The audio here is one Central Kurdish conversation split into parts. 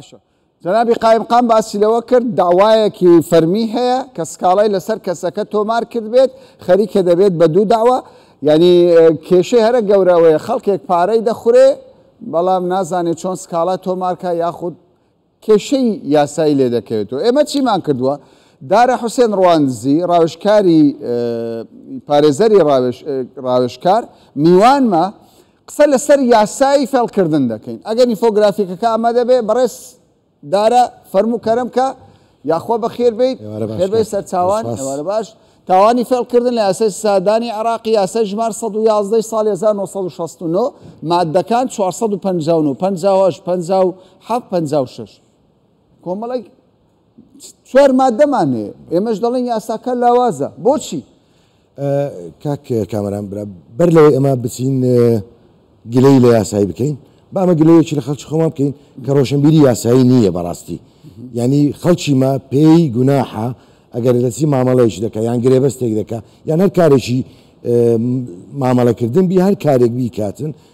باشە جەنابی قایمقام باسی لەوە کرد داوایەکی فەرمی هەیە کە سکاڵای لەسەر کەسەکە تۆمار کردبێت خەریکە دەبێت بە دوو داوا یعنی کێشەی هەرە گەورەوەیە خەڵکێک پارەی دەخورێ بەڵام نازانێت چۆن سکاڵا تۆمارکە یاخود کێشەی یاسایی لێ دەکەوێتەوە ئێمە چیمان کردووە دارە حوسێن ڕواندزی ڕاوشکاری پارێزەری ڕاوشکار میوانمە قسە لەسەر یاسای فێڵکردن دەکەین ئەگەر نیفۆگرافیکەکە ئامادە بێت بەڕێز دارا فەرموو کەرم کە یاخوا بەخێر بیت خێر بێ سەرچاوان ئێوارە باش تاوانی فێڵکردن لە یاسای سادانی عراقی یاسای ژمار 1970 ساڵی 1969 مادەکان 459 56 56 کۆمەڵێک چوار مادەمان هەیە ئێمەش دەڵێن یاساکە لاوازە بۆچی؟ کاک کامەران برا بەر لەوەی ئەمە بچین گلەی لە یاسایی بکەین بامە گلەیەکی لە خەڵکی خۆمان بکەین کە ڕۆشنبیری یاسایی نییە بەڕاستی ینی خەڵکی ما پێی گوناحە ئەگەر دەچی مامەڵەیەکی دەکە یان گرێبەستێک دەکە یان هەر کارێکی مامەڵەکردن بی هەر کارێک بیکاتن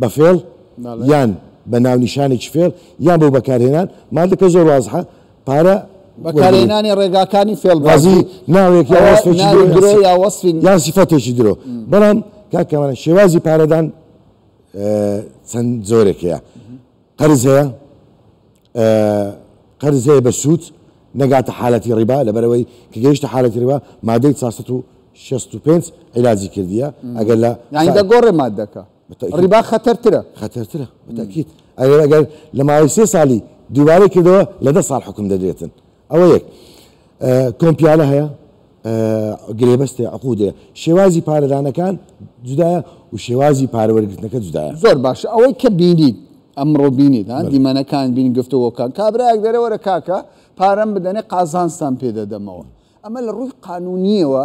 بە فێڵ یان بە ناونیشانێکی فێڵ یان بۆ بەکارهێنان مادەکە زۆر وازحە پارە بەکارهێنانی ڕێگاکانی فێڵبازی ناوێک یا وەسفێکی درۆ یا وەسفی یا سیفەتێکی درۆ بەڵام کاکەوانە شێوازی پارەدان چەند جۆرێک هەیە قەرز هەیە قەرزێ بە سوود نەگاتە حالەتی ڕیبا لەبەرەوەی کە گەیشتە حالەتی ڕیبا مادەی چوار سەد و شەست و پێنج عیلاجی کردیە ئەگەر لە یعنی دەگۆڕێ مادەکە بەتەئکید ڕیبا خەتەرترە خەتەرترە بەتەئکید ئەگەر ئەگەر لە ماوەی سێ سالی دووبارەی کردەوە لە دە ساڵ حوکم دەدرێتن ئەوە یەک کۆمپیالە هەیە گرێبەستێ عقودێ شێوازی پارەدانەکان جودایە و شێوازی پارەوەرگرتنەکە جودایە زۆر باشە ئەوەی کە بینیت ئەمڕۆ بینیت ها دیمەنەکان بین گفتەوەکان کابراەک دەرەوەرە کاکە پارەم بدەنێ قازانستان پێدەدەمەوە ئەمە لە ڕووی قانونیەوە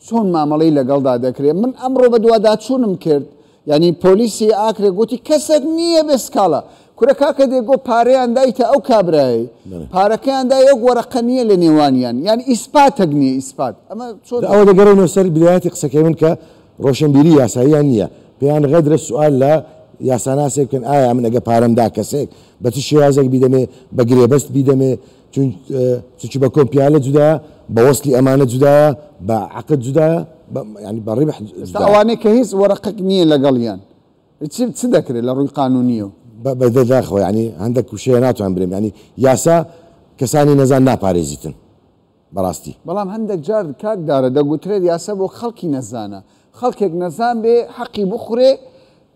چۆن مامەڵەی لەگەڵدا دەکرێت؟ من ئەمڕۆ بەدواداچوونم کرد یانی پۆلیسی ئاکرێ گۆتی کەسەک نییە بێ سکاڵا کورە کاکە دێگۆ پارەیان دایتە ئەو کابرایەی پارەکەیان دا یەک وەرەقە نییە لە نێوانیان یان ئیسپاتەک نییە ئیسپات ئەمە چۆن ئەوە دەگەڕێنەوە سەر بدایەتی قسەکەی من کە ڕۆشنبیری یاساییان نییە پێیان غەدرە سوال لە یاساناسێک بکەن ئایا من ئەگە پارەم دا کەسێک بە چ شێوازێک بیدەمێ بە گرێبەست بیدەمێ چونکی بە کۆمپیالە جودایە، بە وەسلی ئەمانە جودایە، بە عەقد جودایە، یانی بە ڕیبح جودایە. ئێستا ئەوانەی کە هیچ وەرەقەک نییە لەگەڵیان چ دەکرێت لە ڕووی قانوونییەوە؟ بەداخەوە یانی هەندەک وشەیە ناتوانم بلێم یانی یاسا کەسانی نەزان ناپارێزیتن بەڕاستی. بەڵام هەندەک جار کاک دارە دەگوترێت یاسا بۆ خەڵکی نەزانە، خەڵکێک نەزان بێ حەقی بخورێ،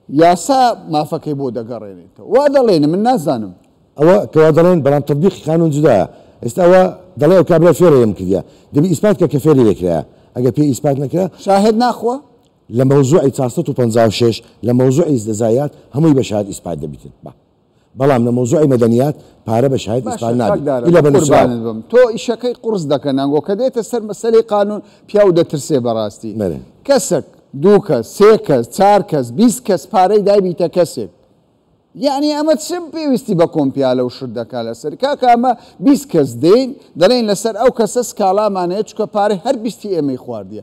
یاسا مافەکەی بۆ دەگەڕێنێتەوە. وا دەڵێن، من نازانم. ئەوە کە وا دەڵێن، بەڵام تەتبیقی قانوون جودایە. ئێستا ئەوە دەڵێ، ئەو کابرای فێرە ئێمە کردیە. دەبی ئیسپات کە کە فێری لێ کرایە. ئەگەر پێی ئیسپات نەکرا. شاهێد ناخوا؟ لە مەوزوعی چوار سەد و پەنجا و شەش، لە مەوزوعی زەزایات، هەمووی بە شاهێد ئیسپات دەبیتن. با. بەڵام لە مەوزوعی مەدەنیات پارە بە شاهێد ئیسپان نابیت ئیلا بە نوسراو. باشە چاکدارە بەقوربانت بم تۆ ئیشەکەی قوڕس دەکە نانگۆ کە دێتە سەر مەسەلەی قانون پیاو دەترسێ بەڕاستی کەسەک دوو کەس سێ کەس چار کەس بیست کەس پارەی دایبیتە کەسێک یەعنی ئەمە چ پێویستی بە کۆمپیالە و شت دەکا لەسەر کاکە ئەمە بیست کەس دێین دەڵێین لەسەر ئەو کەسە سکاڵامان هەیە چونکە پارەی هەر بیستی ئێمەی خواردیە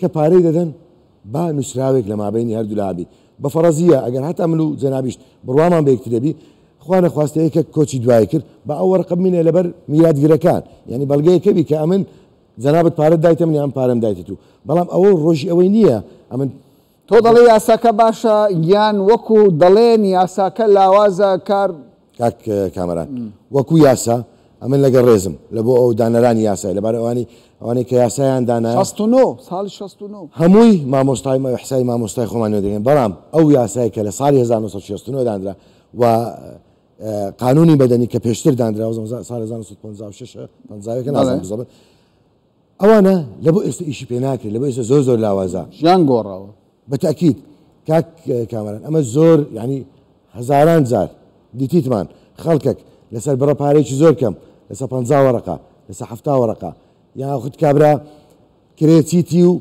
کە پارەی دەدەن با نوسراوێک لە مابەینی هەردوو لا بی بە فەڕەزییە ئەگەر هەتا من و جەنابیشت بڕوامان بە یەکترێ بی خوا نەخواستە یەکێک کۆچی دوایی کرد با ئەو وەڕقە بمینێ لە بەر میراتگرەکان یانی بەڵگەیەکە بی کە ئەمن جەنابت پارەت دایتە من یا من پارەم دایتە تو بەڵام ئەوە ڕۆژی ئەوەی نییە ئەمن تۆ دەڵێی یاساکە باشە یان وەکو دەڵێن یاساکە لاوازە کار. کاک کامەران وەکو یاسا ئەمن لەگە ڕێزم لە بۆ ئەو دانەرانی یاسای لەبار ئەوانی ئەوانەی کە یاسایان دانا ساڵی هەمووی مامۆستای حسای مامۆستای خۆمان دەگەن بەڵام ئەو یاسای کە لە ساڵی 1960 دانرا و قانونی بەدەنی کە پێشتر دانرا سال 1950 نازانم ئەوانە لە بۆ ئێستە ئیشی پێ ناکرێت لە بۆ ئێستە زۆر زۆر لاوازە. ژیان گۆڕاوە. بە تەئکید کاک کامەران ئەمە زۆر یانی هەزاران جار دیتیتمان خەڵکەک لە سەر بڕە پارەیەکی زۆر کەم لە سەر پەنجا وەڕەقە لە سەر حەفتا وەڕەقە یاخود کابرا کرێ چیتی و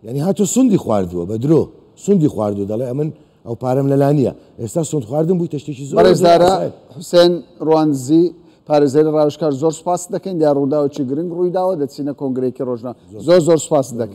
یانی هاتۆ سندی خواردووە بە درۆ سندی خواردو دەڵێ ئەمن ئەو پارەم لەلا نییە ئێستا سند خواردن بووی تەشتێکی زۆرزارە حوسێن ڕوانزی پارێزەری ڕاوشکار زۆر سپاس دەکەین یا ڕووداوکی گرنگ ڕوویداوە دەچینە کۆنگرێکی ڕۆژنا زۆر زۆر سپاس دەکەین.